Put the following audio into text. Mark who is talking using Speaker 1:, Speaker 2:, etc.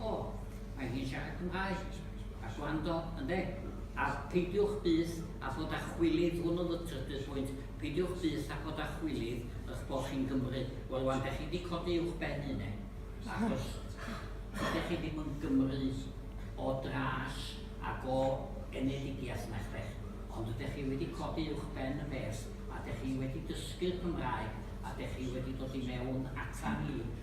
Speaker 1: O, mae hi'n siarad Cymraeg. A gwrando, ynde? A peidiwch byth â bod â chwilydd, hwn oedd y trydydd phwynt, peidiwch byth â bod â chwilydd eich bod chi'n Gymry. Wel, rwan, dych chi wedi codi uwch ben hynny, achos dych chi ddim yn Gymry o dras ac o genedigaeth na chbeth, ond ydych chi wedi codi uwch ben y peth, a dych chi wedi dysgu'r Cymraeg, a dych chi wedi dod i mewn ata ni,